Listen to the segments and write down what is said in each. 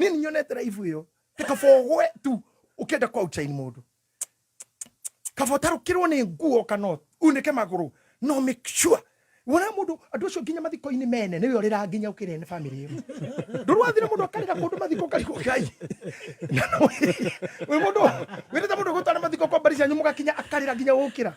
nini nyonete raibu ĩyo kaba ũgwe tu ũkĩenda kwa uchaini mũndũ kaba ũtarũkĩrwo nĩ nguo kana unĩke magũrũ no make sure wona mundu andu acio nginya mathiko-inĩ mene niwe urira nginya ukire ni family iyo ndurwathire mundu akarira kundu mathiko karigo kai wi mundu wirite mundu gutwara mathiko kwa mbari cianyu mugakinya akarira nginya gukira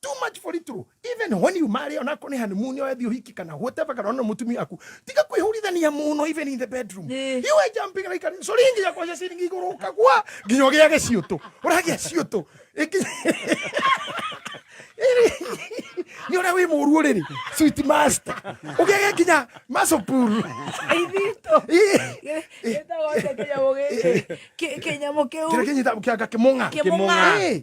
too much for little even when you marry ona ko ni honeymoon yo ethi uhiki kana whatever kana ona mutumia aku tiga kwihurithania muno even in the bedroom Eh. you are jumping like a soringi ya kwa siringi iguru kagwa nginya gya giciutu uragia ciutu Iki- ni ora wi muru riri sweet master ugege nginya masopuru Aithito. Gĩtagwo atĩa kĩnyamũ gĩkĩ? Kĩ- kĩnyamũ kĩu? kira kinyita kianga kimunga Kĩmũng'a. Eh,